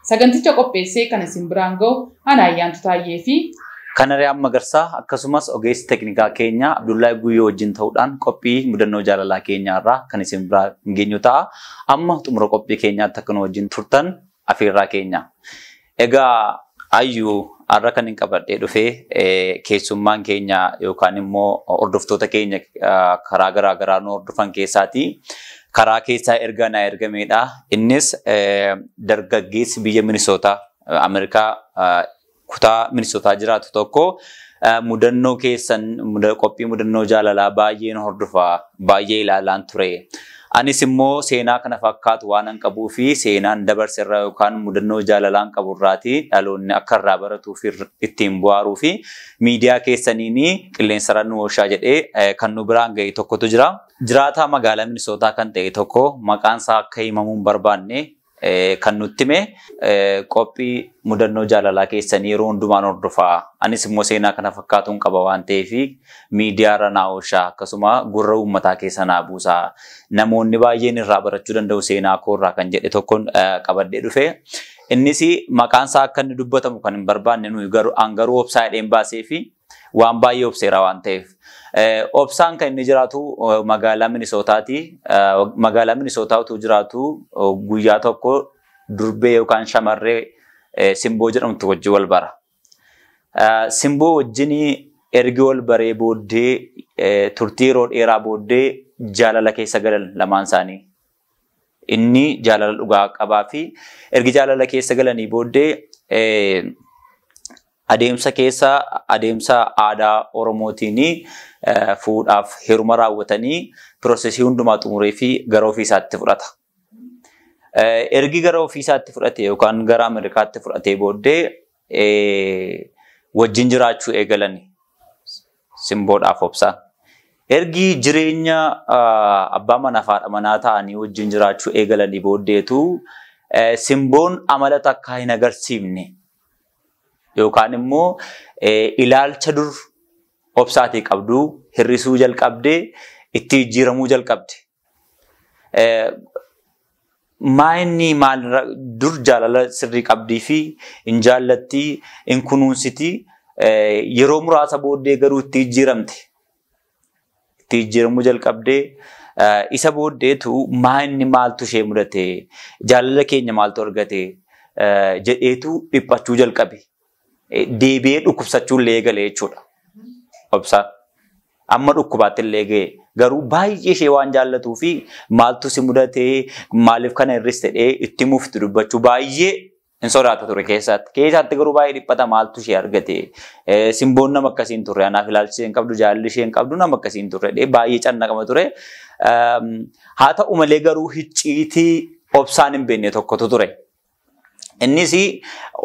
Saganticha qopheessee kan isin biraan ga'u ana Ayyaantu Taayyee fi. Kanariyaan Magarsaa akkasumas ogeessi teknikaa keenya Abdullahi Guyyoo wajjin ta'uudhaan qophii mudannoo jaalalaa keenyaa irraa kan isin biraa hin geenyu ta'a. Amma xumura qophii keenyaatti akka nu wajjin turtan afeerraa keenya. Egaa Ayyuu har'a kan hin qabadhee dhufee keessummaan keenya yookaan immoo hordoftoota keenya karaa garaa garaa nu hordofan keessaatii karaa keessaa ergaa naa ergameedha. Innis dargaggeessi biyya Minisootaa Ameerikaa kutaa Minisootaa jiraatu tokko mudannoo keessan qophii mudannoo jaalalaa baay'een hordofa baay'ee ilaalaan ture. Anis immoo seenaa kana fakkaatu waan an qabuu fi seenaan dabarse irraa yookaan mudannoo jaalalaan qabu irraati dhaloonni akka irraa baratuu fi ittiin bu'aaruu fi miidiyaa keessaniin qilleensarra nu oolchaa jedhee kan nu biraan ga'e tokkotu jira. Jiraataa magaalaa Minisootaa kan ta'e tokko maqaan isaa akka himamuu hin barbaanne kan nutti hime qophii mudannoo jaalalaa keessanii yeroo hundumaan hordofaa anis immoo seenaa kana fakkaatuun qaba waan ta'eef miidiyaarra naa ooshaa akkasuma gurra uummataa keessa naa buusaa namoonni baay'een irraa barachuu danda'u seenaa koorraa kan jedhe tokkoon qabadhee dhufe. Innis maqaan isaa akka inni dubbatamu kan hin barbaanne nuyi garuu an garuu obsaa hidheen baasee fi Waan baay'ee obseera waan ta'eef. Obsaan kan inni jiraatu magaalaa Minisootaati. Magaalaa Minisootaa utuu jiraatu guyyaa tokko durbee yookaan shamarree simboo jedhamtu wajjin wal bara. Simboo wajjin ergi wal baree booddee turtii yeroo dheeraa booddee jaalala keessa galan lamaan isaanii. Inni jaalala dhugaa qabaa fi ergi jaalala keessa galanii booddee adeemsa keessa adeemsa aadaa Oromootiin fuudhaaf heeruma raawwatanii piroosesii hundumaa xumuree fi gara ofii isaatti fudhata. Ergi gara ofii isaatti fudhate yookaan gara Ameerikaatti fudhatee booddee wajjin jiraachuu eegalani simboodhaaf obsaan. Ergi jireenya abbaa manaaf haadha manaa ta'anii wajjin jiraachuu eegalanii booddeetu simboon amala takkaa hin agarsiifne yookaan immoo ilaalcha dur obsaatii qabdu hir'isuu jalqabde itti jijjiiramuu jalqabde. Maa inni maal dur jaalala sirrii qabdii fi hin jaallattii hin kunuunsiti yeroo muraasa booddee garuu itti jijjiiramte. Itti jijjiiramuu jalqabdee isa booddeetu maa inni maaltu ishee mudate jaalala keenya maaltu argate jedheetu dhiphachuu jalqabe. deebi'ee dhukkubsachuu illee eegale jechuudha. Obsaan. Amma dhukkubaatti illee ga'e. Garuu baay'ee ishee waan jaallatuu fi maaltu si mudatee maaliif kana irris ta'ee itti mufti dubbachuu baay'ee hin sodaata ture keessaatti. Keessaatti garuu baay'ee dhiphata maaltu ishee argate. Simboon nama akkasii hin turre. Anaaf ilaalchi ishee hin qabdu, jaalli ishee hin qabdu nama akkasii hin turre. Baay'ee cannaqama ture. Haa ta'u malee garuu hicciitii obsaan hin beekne tokkotu ture. Innis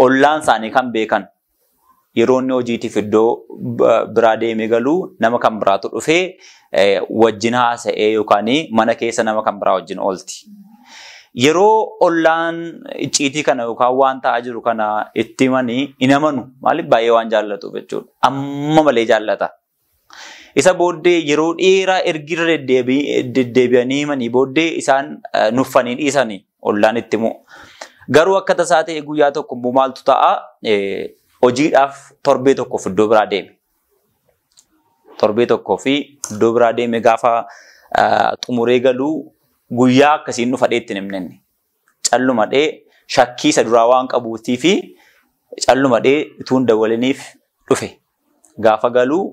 ollaan isaanii kan beekan yeroo inni hojiitiif iddoo biraa deemee galu nama kan biraatu dhufee wajjin haasa'ee yookaan mana keessa nama kan biraa wajjin oolti. Yeroo ollaan icciitii kana yookaan waan ta'aa jiru kana itti himanii hin amanu. Maaliif baay'ee waan jaallatuuf jechuudha. Amma malee jaallata. Isa booddee yeroo dheeraa ergi irra deddeebi'anii himanii booddee isaan nuffanii dhiisanii ollaan itti himu. Garuu akka tasaa ta'e guyyaa tokko immoo maaltu ta'a hojiidhaaf torbee tokkoof iddoo biraa deeme. Torbee tokkoo fi iddoo biraa deeme gaafa xumuree galuu guyyaa akkasiin dhufa dheetti hin himne. callumadhee shakkii isa duraa waan qabuutii fi callumadhee utuun dawwaliniif dhufe. Gaafa galuu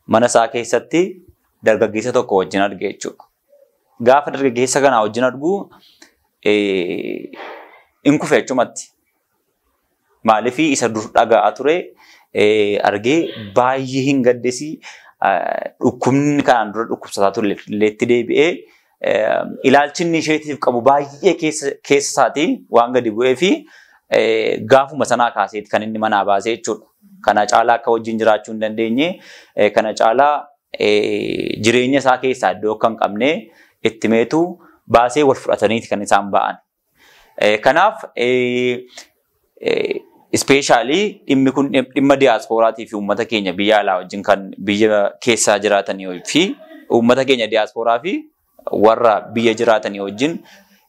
mana isaa keessatti dargaggeessa tokko wajjin arge jechuudha. Gaafa dargaggeessa kanaa wajjin arguu hin kufe achumatti. Maaliif isa dur dhaga'aa ture argee baay'ee hin gaddesi. Dhukkubni kanaan dura dhukkubsataa ture illeetti deebi'ee ilaalchi inni isheetiif qabu baay'ee keessa isaatii waan gadi bu'ee fi gaafuma sanaa kaaseeti kan inni manaa baasee jechuudha. Kana caalaa akka wajjin jiraachuu hin dandeenye, kana caalaa jireenya isaa keessaa iddoo akka hin qabne itti meetu baasee wal fudhataniiti kan isaan ba'an. Eh, Kanaaf eh, eh, ispeeshaalii dhimmi kun dhim- dhimma diyaasporaatii fi uummata keenya biyya alaa wajjin kan biyya keessaa jiraatanii fi uummata keenya diyaasporaa fi warra biyya jiraatanii wajjin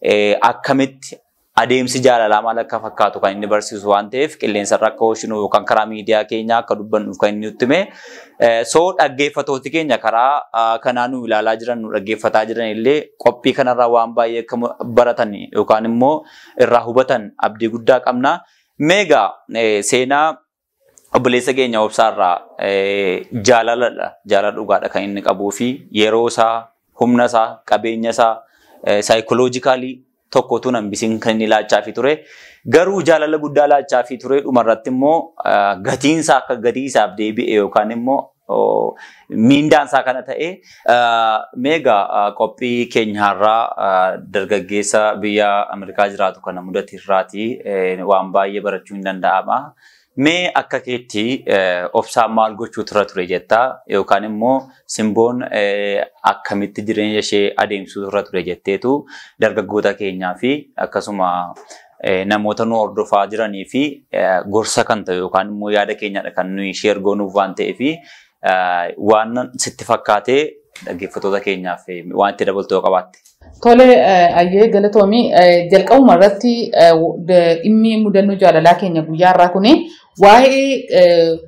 eh, akkamitti adeemsi jaalalaa maal akka fakkaatu kan inni barsiisu waan ta'eef qilleensarra akka oolchinu yookaan karaa miidiyaa keenyaa akka dubbannuuf kan inni nutti hime So dhaggeeffatooti keenya karaa kanaa nu ilaalaa jiran nu dhaggeeffataa jiran illee qophii kanarraa waan baay'ee akka baratan yookaan immoo irraa hubatan abdii guddaa qabna. Meegaa seenaa obboleessa keenya obsaarraa jaalaladha jaalala dhugaadha kan inni qabuu fi yeroo isaa humna isaa qabeenya isaa saayikoloojikaalii tokko utuu nan bisin kan inni laachaafi ture. Garuu jaalala guddaa laachaafi ture dhumarratti immoo gatiinsaa akka gatii isaaf deebi'e yookaan immoo miindaansaa kana ta'e meega qophii keenyaarraa dargaggeessa biyya Ameerikaa jiraatu kana mudate irraati waan baay'ee barachuun ni danda'ama. Mee akka keetti obsaan maal gochuutu irra ture jetta yookaan immoo simboon akkamitti jireenya ishee adeemsisuutu irra ture jetteetu dargaggoota keenyaa fi akkasuma namoota nu hordofaa jiranii fi gorsa kan ta'u yookaan immoo yaada keenyadha kan nuyi sheer goonuuf waan ta'eef Waan sitti fakkaatee dhaggeeffattoota keenyaaf waan itti dabaltu yoo qabaatte. Tole ayyee galatoomi jalqabuma irratti dhimmi mudannoo jaalalaa keenya guyyaa irraa kuni waa'ee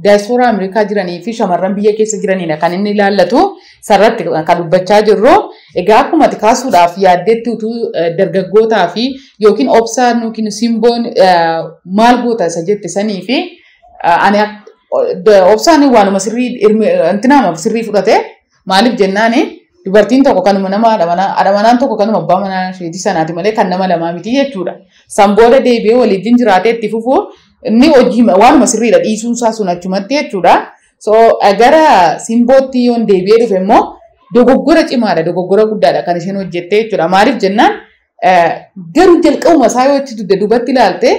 daayispooraa Ameerikaa jiranii fi shamarran biyya keessa jiraniidha kan inni ilaallatu sarratti kan dubbachaa jirru. Egaa akkuma kaasuudhaaf yaaddeetti utuu dargaggootaa fi yookiin obsaan yookiin simboon maal goota isa jette sanii fi Ani obsaan waanuma sirrii intinaamaaf sirrii fudhate maaliif jennaani dubartiin tokko kanuma nama adhamanaan tokko kanuma abbaa manaa isheetii sanaati malee kan nama lamaa miti jechuudha. San booda deebi'ee waliin jiraatee itti fufuu inni hojii waanuma sirriidha dhiisuun isaa sun achumatti jechuudha. So gara simbootti yoon deebi'ee dhufe immoo dogoggora cimaadha dogoggora guddaadha kan isheen hojjettee jechuudha. Maaliif jennaan Garuu jalqabuma isaa yoo itti dugda duubatti ilaalte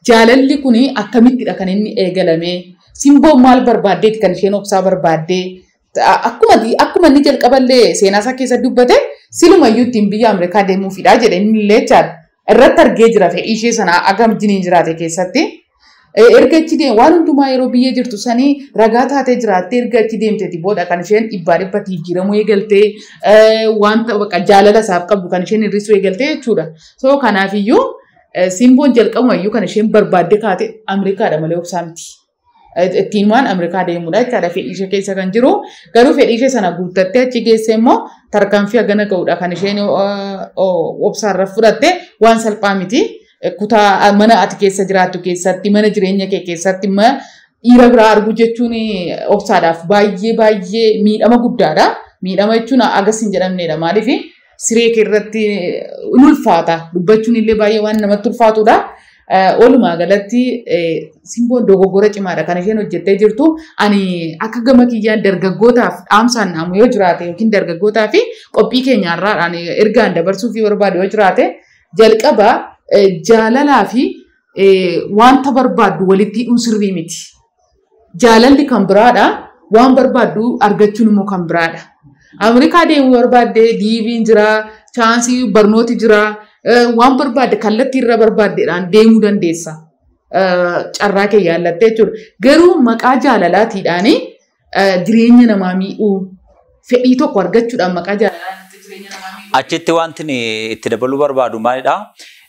jaalalli kun akkamittidha kan inni eegalame? Simboon maal barbaaddeeti kan isheen obsaa barbaaddee? Akkuma akkuma inni jalqaballee seenaa isaa keessa dubbate silumayyuu ittiin biyya Ameerikaa deemuufidha jedhe inni illee jechaadha. Irratti argee jira fedhii ishee sana agam jiniin jiraate keessatti. Erga achi deemte waan hundumaa yeroo biyya jirtu sanii ragaa taatee jiraattee erga achi deemteeti booda kan isheen dhibbaa dhibbatti jijjiiramuu eegaltee wanta baqa jaalala isaaf qabdu kan isheen hir'isuu eegaltee jechuudha. So kanaafiyyuu simboon jalqabuma iyyuu kan isheen barbaadde kaate Ameerikaadha malee obsaa miti. Ittiin waan Ameerikaa deemudha jechaadha fedhii ishee keessa kan jiru. Garuu fedhii ishee sana guuttattee achi geessee immoo tarkaanfii hagana ga'udha kan isheen obsaarra fudhatte waan salphaa miti. Kutaa mana ati keessa jiraattu keessatti, mana jireenya kee keessatti dhiira biraa arguu jechuun obsaadhaaf baay'ee baay'ee miidhama guddaadha. Miidhama jechuun agas hin jedhamneedha. Maaliif siree kee irratti ni ulfaata. Dubbachuun illee baay'ee waan namatti ulfaatudha. Walumaa galatti simboon dogoggora cimaadha kan isheen hojjettee jirtu. Ani akka gama kiyyaan dargaggootaaf dhaamsaan dhaamu yoo jiraate yookiin dargaggootaa fi qophii keenyaarraa ergaan dabarsuuf yoo barbaade yoo jiraate Jalqaba jaalalaa fi wanta barbaaddu walitti hidhuun sirrii miti. Jaalalli kan biraadha, waan barbaaddu argachuun immoo kan biraadha. Ameerikaa deemuu barbaadde diiviin jira, chaansii barnooti jira, waan barbaadde kallattii irra barbaaddeedhaan deemuu dandeessa. Carraa kee yaallattee jechuudha. Garuu maqaa jaalalaatiidhaanii eh, jireenya namaa miidhuu fedhii tokko argachuudhaan maqaa jaalalaa irratti jireenya namaa miidhuu. Achitti wanti ni itti dabaluu barbaadu maalidha?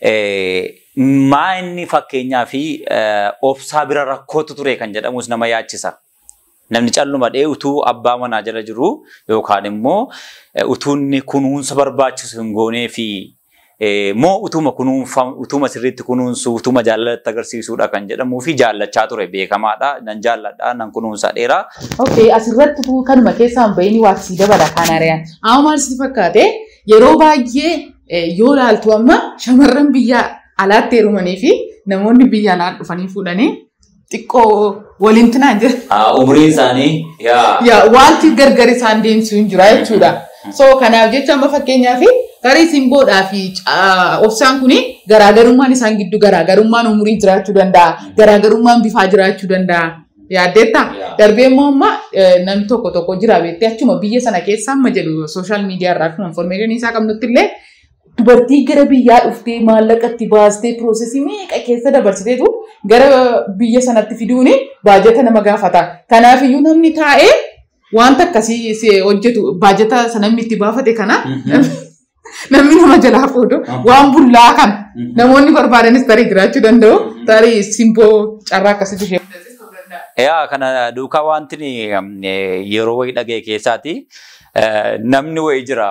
Eh, Maa inni fakkeenyaa fi eh, obsaa bira rakkootu ture kan jedhamus nama yaachisa. Namni calluma dhee utuu abbaa manaa jala jiru yookaan immoo eh, utuu inni kunuunsa barbaachisu hin goonee fi moo utuma kunuunfa utuma sirriitti kunuunsu utuma jaalalatti agarsiisuudha kan jedhamuu fi jaallachaa ture beekamaadha nan jaalladha nan kunuunsa dheeraa. Okay asirratti utuu kanuma keessaa hin bahiin waa sii dabala kaan ari'an. Amma maal sitti fakkaate yeroo baay'ee eh, yoo ilaaltu amma shamarran biyya alaatti heerumanii fi namoonni biyya alaa dhufanii fuudhanii xiqqoo waliin tinaa jira. Haa umriin isaanii yaa. Yaa wanti gargar isaan deemsu hin jira jechuudha. So kanaaf jecha amma fakkeenyaaf tarii simboodhaa fi caa- obsaan kun garaagarummaan isaan giddu garaagarummaan umurii jiraachuu danda'a. Garaagarummaan bifaa jiraachuu danda'a. Yaaddeetta? Yaa. Darbee immoo amma eh, namni tokko tokko jira beektee achuma biyya sana keessa amma jedhu sooshaal miidiyaa irraa akkuma informeeshinii isaa qabnutti illee Dubartii gara biyyaa dhuftee maallaqa itti baastee piroosesii meeqa keessa dabarsiteetu gara biyya sanatti fiduun baajata nama gaafata. Kanaaf iyyuu namni taa'ee wanta akkasii si hojjetu baajata sana namni itti baafate kana namni nama jalaa fuudhu waan bullaa kana namoonni barbaadanis tarii jiraachuu danda'u tarii simboo carraa akkasii ishee mudachiisuu danda'a. Yaa kana duukaa wanti ni, eh, yeroo wayii dhaga'e keessaati eh, namni wayii jira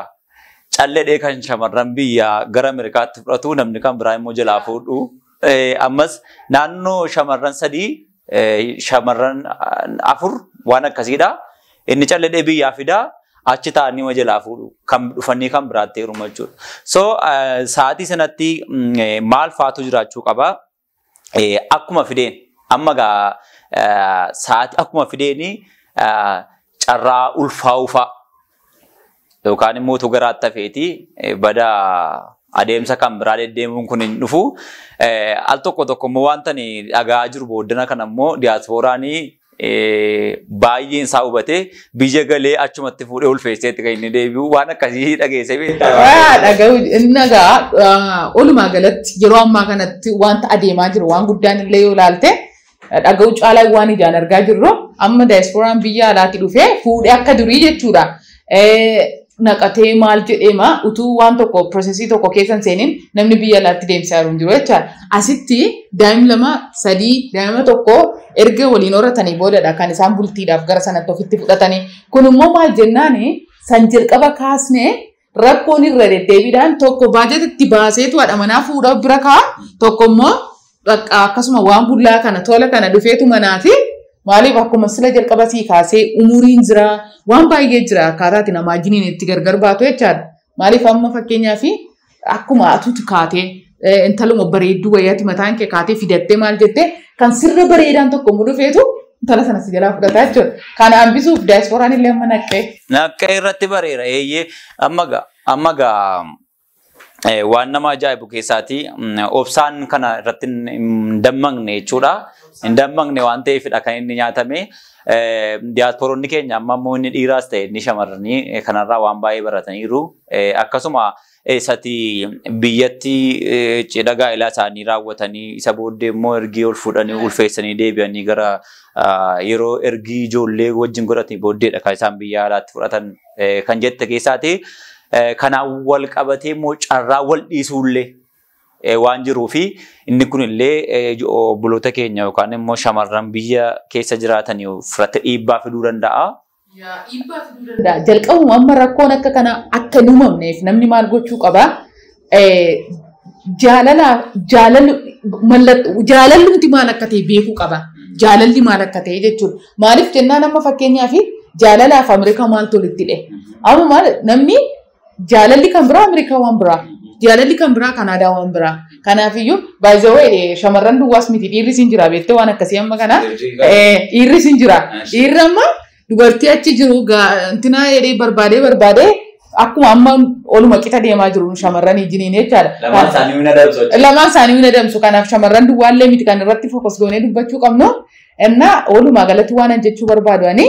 calledhee kan shamarran biyyaa gara Ameerikaatti fudhatu namni kan biraa immoo jalaa fuudhu. Eh, Ammas naannoo shamarran sadii eh, shamarran ah, afur waan akkasiidha. Inni calledhee biyyaa fida achi taa'anii ma jalaa fuudhu kan dhufanii kan biraatti heeruma jechuudha. So eh, sa'aatii sanatti mm, eh, maal faatu jiraachuu qaba? eh, akkuma fideen amma gaa eh, sa'aatii akkuma fideeni eh, carraa ulfaa'uufaa yookaan immoo utuu garaa tafeeti eh, bada adeemsa kan biraa deddeemuun kun hin dhufu. Eh, Al tokko tokko immoo wanta ani dhaga'aa jiru booddana kana immoo diyaaspooraanii baay'een isaa hubatee biyya galee achumatti fuudhee ulfeesseetti kan inni deebi'u waan akkasii dhageessee beektaa. Waa dhaga'u inni egaa olumaa galatti yeroo ammaa kanatti wanta adeemaa jiru waan guddaan illee yoo ilaalte dhaga'u caalaa waan ijaan argaa jirru amma daayispooraan biyya alaatti dhufee fuudhee akka durii jechuudha. naqatee maal jedheema utuu waan tokko piroosesii tokko keessa hin seenin namni biyya alaatti deemsaa jiru hin jiru jecha asitti daa'im lama sadii daa'ima tokko erga waliin horatanii boodadha kan isaan bultiidhaaf gara sanatti ofitti fudhatanii kun immoo maal jennaan san jalqaba kaasne rakkoon irra deddeebiidhaan tokko baajata itti baaseetu haadha manaa fuudhaa bira kaa tokko immoo Bakka akkasuma waan bullaa kana tola kana dhufeetu manaa fi maaliif akkuma sila jalqaba sii kaasee umuriin jira waan baay'ee jira akkaataati namaa jiniin itti gargar baatu jechaadha. Maaliif amma fakkeenyaa fi akkuma atuuti kaatee eh, intaluma bareedduu wayyaati mataan kee kaatee fidattee maal jettee kan sirra bareedaan tokko mu dhufeetu intala sana si jalaa fudhataa jechuudha. Kana hambisuuf daayispooraan illee amma naqqee. Naqqee irratti bareera eeyyee amma gaa amma gaa Eh, waan nama ajaa'ibu keessaati mm, obsaan kana irratti hin hin dammaqne jechuudha. Hin dammaqne waan ta'eefidha kan inni nyaatame. Eh, Diyaaspooronni keenya amma immoo inni dhiiraas ta'e inni shamarranii eh, kanarraa waan baay'ee barataniiru. Eh, Akkasuma eessati biyyatti eh, cidha gaa'elaa isaanii raawwatanii isa booddee immoo ergii ol fuudhanii ulfeessanii deebi'anii gara ah, yeroo ergii ijoollee wajjin godhatanii booddeedha kan isaan biyya alaatti fudhatan. eh, kan jette keessaati. Eh, Kanaan wal qabatee immoo carraa wal dhiisuullee eh, waan jiruu fi inni kunillee eh, jo- obboloota keenya yookaan immoo shamarran biyya keessa jiraatan irratti dhiibbaa fiduu danda'a. Yaa dhiibbaa fiduu danda'a. Jalqabuma amma rakkoon akka kanaa akka hin uumamneef namni maal gochuu qaba? jaalala jaalalli mallattoo jaalallumti maal akka ta'e beekuu qaba. Jaalalli maal akka ta'e jechuudha. Maaliif jennaan amma fakkeenyaaf jaalalaaf Ameerikaa maaltu walitti hidhe? Amma maal namni jaalalli kan biraa Ameerikaa waan biraa. Jaalalli kan biraa Kanaadaa waan biraa. Kanaafiyyuu baay'ee shamarran duwwaas miti dhiirri siin jira beektee waan akkasii amma kana dhiirri siin jira. Dhiirri amma Dubartii achi jiru intinaa jedhee barbaadee barbaadee akkuma amma oluma qixa deemaa jiru shamarran ijiniin jechaadha. Lamaan isaanii mina dabsu. Lamaan isaanii mina dabsu kanaaf shamarran duwwaallee miti kan irratti fokus goonee dubbachuu qabnu. Innaa walumaa galatti waan an jechuu barbaadu ani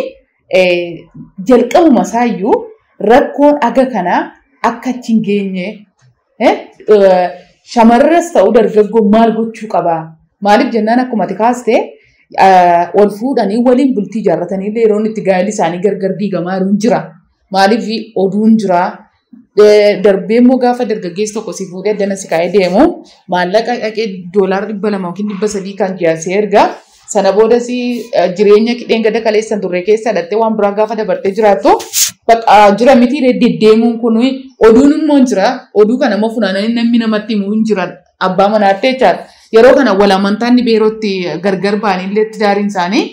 jalqabuma isaayyuu rakkoon aga kanaa akka achi hin geenye Eh, eh, Shamarras ta'u dargaggoon maal gochuu qaba? Maaliif jennaan akkuma ati kaaste eh, wal fuudhanii waliin bultii ijaarratanii illee yeroo inni itti gaa'elli isaanii gargar diigamaa jiru hin jira. Maaliif oduun jira. Eh, Darbee immoo gaafa dargaggeessi tokko si fuudhee addana si kaa'ee deemu maallaqa dhaqee doolaara dhibba lama yookiin dhibba sadii kan ji'a si erga. Sana boodas jireenya dheengadda kaleessan turre keessa dhattee waan biraa gaafa dabartee jiraattu bakka jira miti deddeemuun kun oduun immoo hin jira. Oduu kana immoo funaananii namni namatti himuu hin jiran abbaa manaatti jechaadha. Yeroo kana wal amantaan ni beerootti gargar ba'anii illee tidaariin isaanii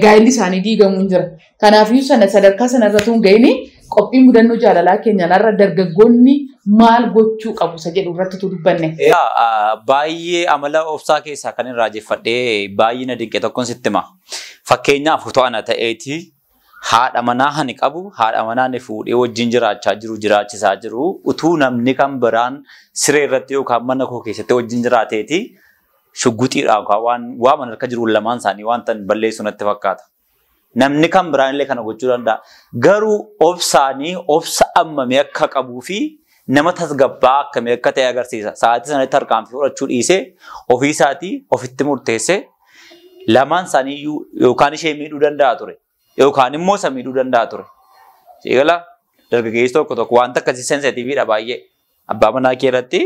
gaa'illi isaanii diigamuu hin jira. Kanaafiyyuu sana sadarkaa sana irra tuun ga'ini qophii mudannoo jaalalaa keenyaan har'a dargaggoonni maal gochuu qabu isa jedhu irratti tu dubbanne. Egaa ah, baay'ee amala obsaa keessaa kan irraa jeffadhee baay'ee na dinqe tokkon sitti hima. Fakkeenyaaf utuu ana ta'eeti haadha manaa ani qabu haadha manaa ani fuudhee wajjin jiraachaa jiru jiraachisaa jiru utuu namni kan biraan siree irratti yookaan mana koo keessatti wajjin jiraateeti shugguxiidhaan yookaan waan waaman harka jiru lamaan isaanii wanta balleessu natti fakkaata. Namni kan biraan illee kana gochuu danda'a. Garuu obsaanii obsa ammamii akka qabuu fi nama tasgabbaa akkamii akka ta'e agarsiisa. Sa'aatii sanatti tarkaanfii fudhachuu dhiisee ofii isaatii ofitti murteessee lamaan isaanii iyyuu yookaan ishee miidhuu danda'a ture. Yookaan immoo isa miidhuu danda'a ture. Siigala dargaggeessi tokko tokko wanta akkasii sensitiviidha baay'ee. Abbaa manaa kee irratti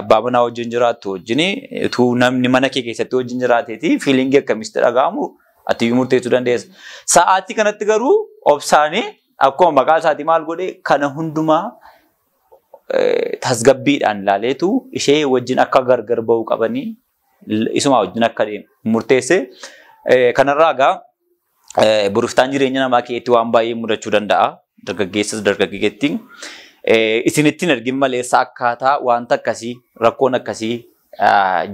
abbaa manaa wajjin jiraattu wajjin utuu namni mana kee keessatti wajjin jiraateeti fiilingii akkamitti dhaga'amu ati iyyuu murteessuu dandeessa. Sa'aatii kanatti garuu obsaanii akkuma maqaa isaatii maal godhe kana hundumaa tasgabbiidhaan ilaaleetu ishee wajjin akka gargar ba'uu qabanii isumaa wajjin akka deemu murteesse. Kanarraa egaa boriftaan jireenya namaa keessatti waan baay'ee mudachuu danda'a. Dargaggeessas dargaggeetti. Isinittiin ergin maleessa akkaataa wanta akkasii rakkoon akkasii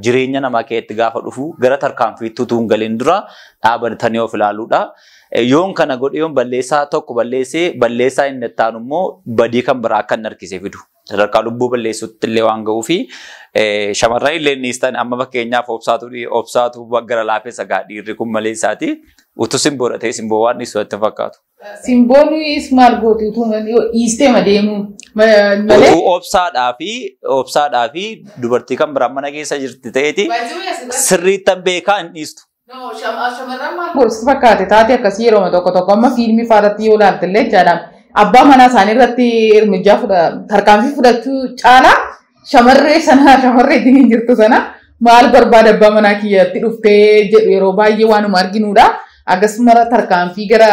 jireenya namaa keessatti gaafa dhufu gara tarkaanfiitti utuu hin galin dura dhaabatanii of ilaaluudha. Yoon kana godhe yoon balleessaa tokko balleessee balleessaa inni itti aanu immoo badii kan biraa akka inni harkisee fidu. sadarkaa lubbuu balleessuutti illee waan ga'uu fi shamarran illee dhiistan amma fakkeenyaaf obsaatu obsaatu gara laafessa gaa dhiirri kun malee isaati utuu simboo dhatee simboo waan dhiisu itti fakkaatu. Simboon is maal gootu utuu dhiistee ma deemuu malee. Utuu obsaadhaa fi obsaadhaa fi dubartii kan biraan mana keessa jirti ta'eeti sirriittan beekaa hin dhiistu. No, sham- ah, shamarran maal godhu si fakkaate taate akkasii yeroo tokko tokko amma fiilmii faarratti yoo ilaalte illee jechaadha. Abbaa manaa isaanii irratti ermijaa fudha tarkaanfii fudhachuu caalaa shamarree sana shamarree ittiin hin jirtu sana maal barbaada abbaa manaa kiyyatti dhuftee jedhu yeroo baay'ee waanuma arginuudha. Akkasumara tarkaanfii gara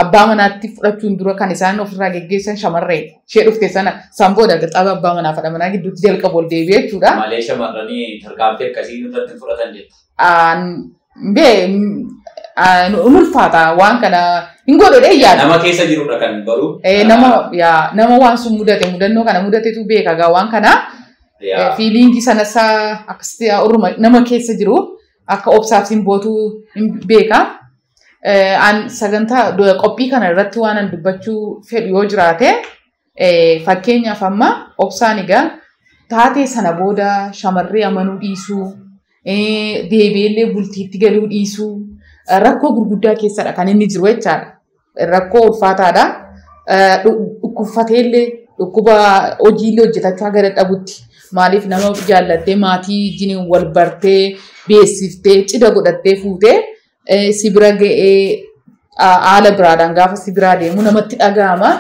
abbaa manaatti fudhachuun dura kan isaan ofirraa geggeessan shamarree ishee dhufte sana san booda qaxaaba abbaa manaa fadha manaa gidduutti jalqabu ol deebi'ee jechuudha. Malee shamarranii tarkaanfii akkasii irratti hin fudhatan jetta. Hin ulfaata waan kana hin godhudhee yaada. Nama keessa jirudha kan baru. Nama yaa nama waan sun mudate mudannoo kana mudatetu beeka gaa waan kana. Fiiliingii sanas akkasitti orma nama keessa jiru akka obsaaf simbootu hin beeka. An sagantaa qophii kana irratti waan an dubbachuu fedhu yoo jiraate Fakkeenyaaf amma obsaan egaa taatee sana booda shamarree amanuu dhiisuu, deebi'eellee bultiitti galuu dhiisuu rakkoo gurguddaa keessadha kan inni jiru jechaadha. Rakkoo ulfaataadha. Dhukkubfateellee dhukkuba hojiillee hojjetachaa gara dhabutti maaliif nama jaallattee maatii wajjin wal bartee beeksiftee cidha godhattee fuutee eh, si bira ga'ee ah, haala biraadhaan gaafa si biraa deemu namatti dhaga'ama.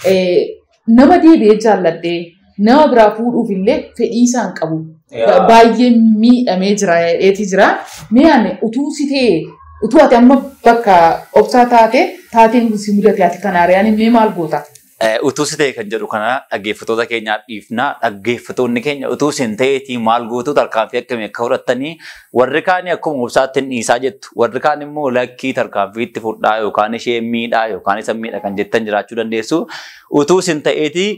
Eh, Nama deebi'ee jaalladhee nama biraa fuudhuuf illee fedhii isaan qabu. Yaa. Baay'ee miidhamee jira jedheeti jira. Mee ani utuu si ta'e utuu ati amma bakka obsaa taate taateen kun si mudate ati kanaaree ani mee maal goota? Eh, Utuu si ta'e kan jedhu kana dhaggeeffattoota keenyaaf dhiifna. Dhaggeeffattoonni keenya utuu isin ta'eetii maal gootu tarkaanfii akkamii akka fudhattanii warri kaanii akkuma obsaatti hin dhiisaa jettu. Warri kaan immoo lakkii tarkaanfii itti fudhaa yookaan ishee miidhaa yookaan isa miidha kan jettan jiraachuu dandeessu. Utuu isin ta'eetii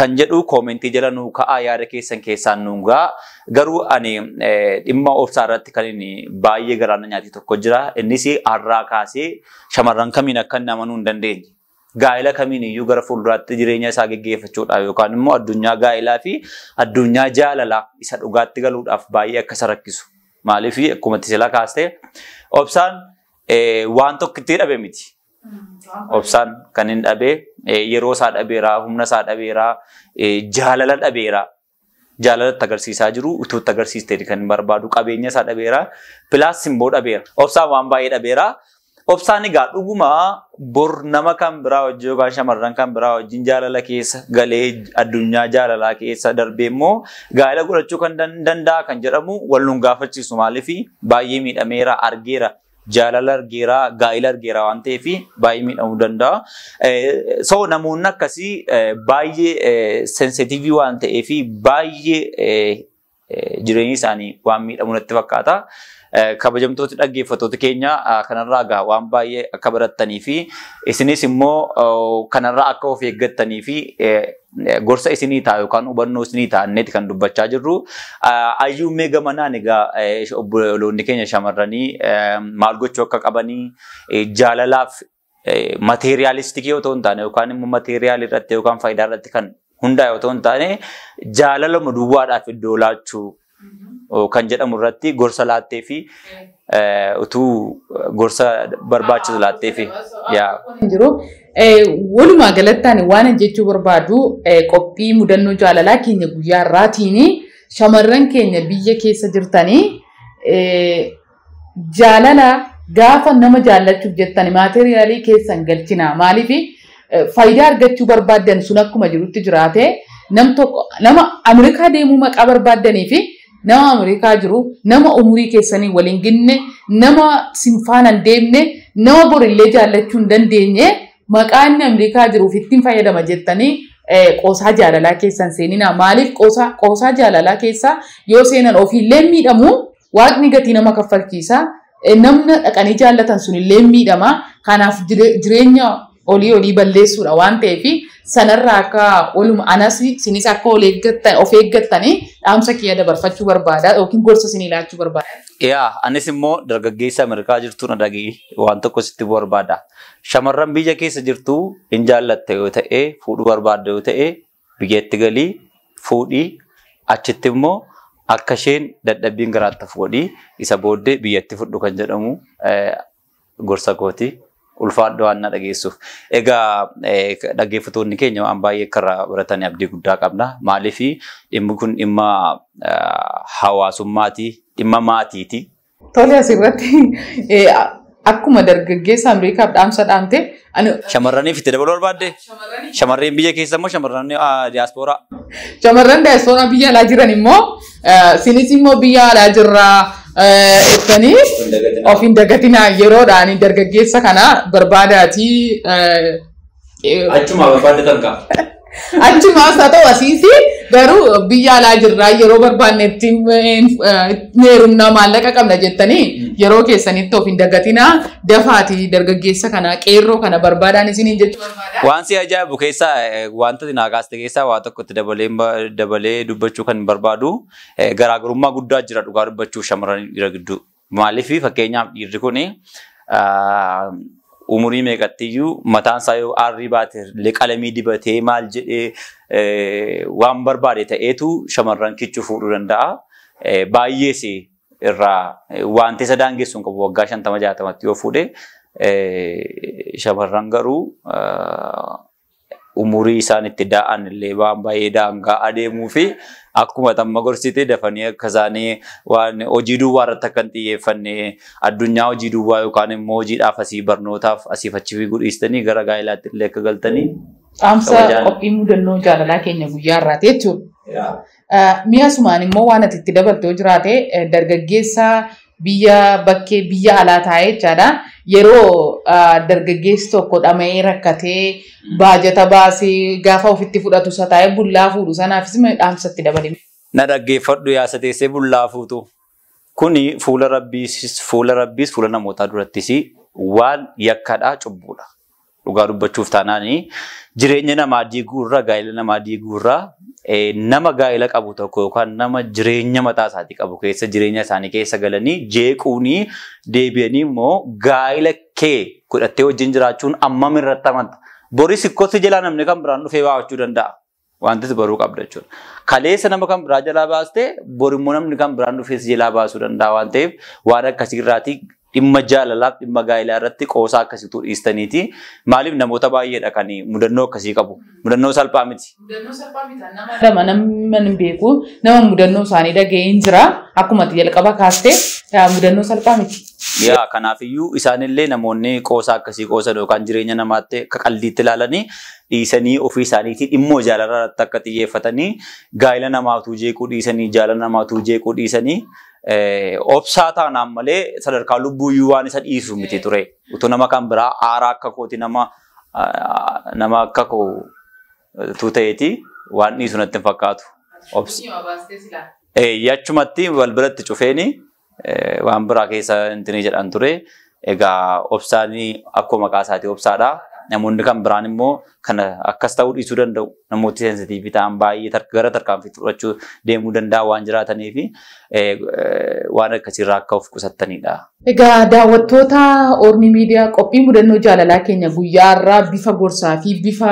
kan jedhu koomentii jala nuu ka'aa yaada keessan keessaan nuu ga'a. Garuu ani eh, dhimma obsaa irratti kan inni baay'ee garaana nyaate tokko jira. Innis har'aa kaasee shamarran kamiin akka inni amanuu hin dandeenye. gaa'ela kamiin iyyuu gara fuulduraatti jireenya isaa geggeeffachuudhaaf yookaan immoo addunyaa gaa'elaa fi addunyaa jaalalaa isa dhugaatti galuudhaaf baay'ee akka isa rakkisu. Maaliif akkuma sila kaastee obsaan waan tokko itti dhabe miti. Obsaan kan hin dhabe yeroo isaa dhabeeraa, humna isaa dhabeeraa, jaalala dhabeeraa. jaalala itti agarsiisaa jiru utuu itti agarsiisteeti kan barbaadu qabeenya isaa dhabeera pilaas simboo dhabeera obsaan waan baay'ee dhabeera obsaan egaa dhuguma bor nama kan biraa wajjin yookaan shamarran kan biraa wajjin jaalala keessa galee addunyaa jaalalaa keessa darbee immoo gaa'ela godhachuu kan danda'a kan jedhamu wal nun gaafachiisu maaliif baay'ee miidhameera argeera jaalala argeera, gaa'ila argeera waan ta'eef baay'ee miidhamuu danda'a. So namoonni akkasii baay'ee sensitiivii waan ta'eef baay'ee jireenyi isaanii waan miidhamu natti fakkaata. Kabajamtooti dhaggeeffattoota keenya kanarraa egaa waan baay'ee akka barattanii fi isinis immoo kanarraa akka of eeggattanii fi gorsa isinii ta'a yookaan hubannoo isinii ta'a inneeti kan dubbachaa jirru. Ayyuu mee gamanaan egaa obboloonni keenya shamarranii maal gochuu akka qabanii jaalalaaf mateeriyaalistikii yoo ta'u hin taane yookaan immoo mateeriyaal irratti yookaan faayidaa irratti kan hundaa'e yoo ta'u hin taane jaalalama duwwaadhaaf iddoo laachuu kan jedhamu irratti gorsa laattee fi utuu gorsa barbaachisu laattee fi yaa. jiru. Walumaa galatti ani waan jechuu barbaadu qophii mudannoo jaalalaa keenya guyyaa irraatiin shamarran keenya biyya keessa jirtanii Jaalala gaafa nama jaallachuuf jettan maateriyaalii keessa hin galchinaa. Maaliif faayidaa argachuu barbaaddan sun akkuma jirutti jiraatee nam tokko nama Ameerikaa deemuu maqaa barbaaddanii fi nama Ameerikaa jiru nama umurii keessanii waliin ginne nama sinfaana hin deemne nama borillee jaallachuu hin dandeenye maqaa inni Ameerikaa jiruuf ittiin fayyadama jettanii qoosaa jaalalaa keessan seeninaa. Maaliif qoosaa jaalalaa keessaa yoo seenan ofiillee miidhamuu Waaqni gatii nama kaffalchiisa. Eh, Namna dhaqanii jaallatan sun illee miidhama. Kanaaf jire- jireenya olii olii balleessuudha waan ta'eef sanarraa akka oluma anas isinis akka ol eeggattan of eeggattanii dhaamsa kiyya dabarfachuu barbaada yookiin gorsa isinii laachuu barbaada. Yaa anis immoo dargaggeessa Ameerikaa jirtu na dhaga'i waan tokko sitti barbaada. Shamarran biyya keessa jirtu hin jaallatte yoo ta'e fuudhuu barbaadda yoo ta'e Biyyatti galii fuudhi, achitti immoo akka isheen dadhabbiin garaatti hafu godhi, isa booddee biyyatti fudhu kan jedhamu gorsa kooti. Ulfaadhu waan na dhageessuuf. Egaa dhaggeeffatoonni keenya waan baay'ee akka irraa baratan abdii guddaa qabna. Maaliif dhimmi kun dhimma hawaasummaati, dhimma maatiiti. Tole asirratti eh, akkuma dargaggeessa Ameerikaaf dhaamsa dhaamte ani Shamarraniif itti dabaluu barbaadde? Shamarreen biyya keessa immoo shamarran diyaaspooraa. shamarran daayispooraa biyya alaa jiran immoo eh, sinis immoo biyya alaa jirraa eh, jettanii of hin dagatinaa yeroodhaan dargaggeessa kana barbaadaatii eh, Achumaa barbaadde tanka. Achumaas haa ta'u asiis garuu biyya alaa jirraa yeroo barbaannetti meerumnaa maallaqa qabna jettanii yeroo keessanitti of hin dagatinaa dafaati dargaggeessa kana qeerroo kana barbaadaan isiniin jechuu barbaada. Waan si ajaa'ibu keessaa eh, wantoota naa kaaste keessaa waa tokkotti dabalee ba- dabalee dubbachuu kan barbaadu eh, garaagarummaa guddaa jira dhugaa dubbachuuf shamarran dhiira gidduu. Maaliif fakkeenyaaf dhiirri kun umurii meeqattiyyuu mataan isaa yoo aarrii baate illee qalamii dibatee maal jedhee waan barbaade ta'eetu shamarran kichuu fuudhuu danda'a. Baay'ees irraa wanti isa daangessu hin qabu waggaa shantama jaatamatti yoo fuudhe shamarran garuu umurii isaan itti daa'an illee waan baay'ee daangaa adeemuu fi akkuma tamma gorsite dafanii akka isaanii waan hojii duwwaa irratti akka hin xiyyeeffanne addunyaa hojii duwwaa yookaan immoo hojiidhaaf asii barnootaaf asiif achi fiiguu dhiistanii gara gaa'ilaatti illee akka galtanii Dhaamsa Kabajaan. qophii mudannoo jaalalaa keenya guyyaa irraati jechuudha. Mi'a sumaan immoo waan ati itti dabaltoo jiraate dargaggeessa biyya bakkee biyya alaa taa'ee jechaadha. Yeroo dargaggeessi tokko dhama'ee rakkatee baajata baasee gaafa ofitti fudhatu isa taa'ee bullaa fuudhu sanaafis dhaamsa itti dabali. Na dhaggeeffadhu yaa isa teessee bullaa fuutu. Kuni fuula Rabbiis, fuula Rabbiis, fuula namootaa durattis waan yakkadha, cubbuudha. Dhugaa dubbachuuf taanaan jireenya namaa diiguu irra, gaa'ela namaa diiguu irra nama gaa'ela qabu tokko yookaan nama jireenya mataa isaatii qabu keessa jireenya isaanii keessa galanii jeequunii deebi'anii immoo gaa'ela kee godhattee wajjin jiraachuun ammam irratti amanta. Boris ikkoo si jalaa namni kan biraan dhufee waamachuu danda'a. Wantis baruu qabda jechuudha. Kaleessa nama kan biraa jalaa baastee bor immoo namni kan biraan dhufee si jalaa baasuu danda'a waan ta'eef waan akkasii irraatii dhimma jaalalaaf dhimma gaa'ilaa irratti qoosaa akkasiitu dhiistaniiti. Maaliif namoota baay'eedha kan mudannoo akkasii qabu. Mudannoo salphaa miti. Mudannoo salphaa miti. Nama lama nama hin beeku nama mudannoo isaanii dhaga'ee hin jira. Akkuma ati jalqaba kaastee yaa mudannoo salphaa miti. Yaa kanaafiyyuu isaanillee namoonni qoosaa akkasii qoosan yookaan jireenya namaatti akka qaldiitti ilaalanii dhiisanii ofii isaaniitii dhimmoo jaalalaa irratti akka xiyyeeffatanii gaa'ila namaa utuu jeequu dhiisanii jaalala namaa utuu jeequu dhiisanii obsaa taanaan malee sadarkaa lubbuuyyuu waan isa dhiisu miti ture. Utuu nama kan biraa aaraa akka kooti nama nama akka koo utuu ta'eeti waan dhiisu natti hin fakkaatu. Obsi. Achumatti wal biratti cufeeni Waan biraa keessa intinii jedhan ture. Egaa obsaan akkuma maqaa isaatii obsaadha. Namoonni kan biraan immoo kana akkas ta'uu dhiisuu danda'u. Namooti seensitiivii ta'an baay'ee gara tarkaanfii fudhachuu deemuu danda'a waan jiraataniif waan akkasiirraa akka of qusattanidha. Egaa daawwattoota Ormi Miidiyaa qophii mudannoo jaalalaa keenya guyyaa har'aa bifa gorsaa fi bifa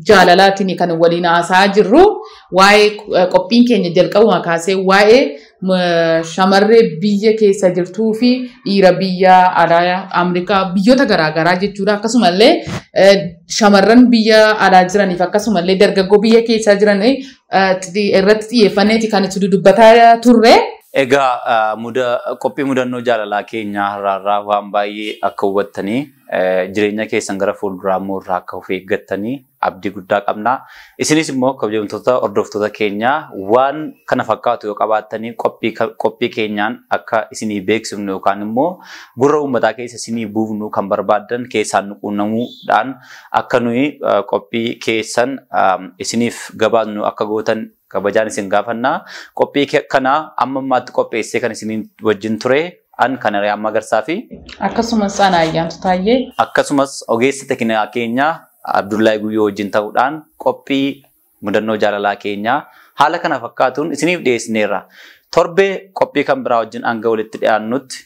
jaalalaatiin kan waliin haasa'aa jirru waa'ee qophiin keenya jalqabuma kaasee waa'ee shamarree biyya keessa jirtuu fi dhiira biyya alaa Ameerikaa biyyoota garaagaraa jechuudha. Akkasumallee shamarran biyya alaa jiraniif akkasumallee dargaggoo biyya keessa jiran irratti xiyyeeffanneeti kan itti dubbataa turre. Egaa qophii mudannoo jaalalaa keenyaa har'aarraa waan baay'ee akka hubattanii jireenya keessan gara fuulduraa immoo irraa akka of eeggattanii abdii guddaa qabna. Isinis immoo kabajamtoota hordoftoota keenya waan kana fakkaatu yoo qabaattanii qophii ka- qophii keenyaan akka isinii beeksifnu yookaan immoo gurra uummataa keessa isinii buufnu kan barbaaddan keessaan nu quunnamuudhaan akka nuyi eh, qophii keessan eh, isiniif gabaasnu akka gootan Kabajaan isin gaafanna. Qophii ke- kana amma ammaatti qopheessee kan isin wajjin ture an kan Ariyaa Magarsaa fi Akkasumas ana ayyaantu taayyee akkasumas ogeessa tekinaa keenya Abdullahi Guyyoo wajjin ta'uudhaan qophii mudannoo jaalalaa keenya haala kana fakkaatuun isiniif dhiyeessineerra. Torbee qophii kan biraa wajjin hanga walitti dhiyaannutti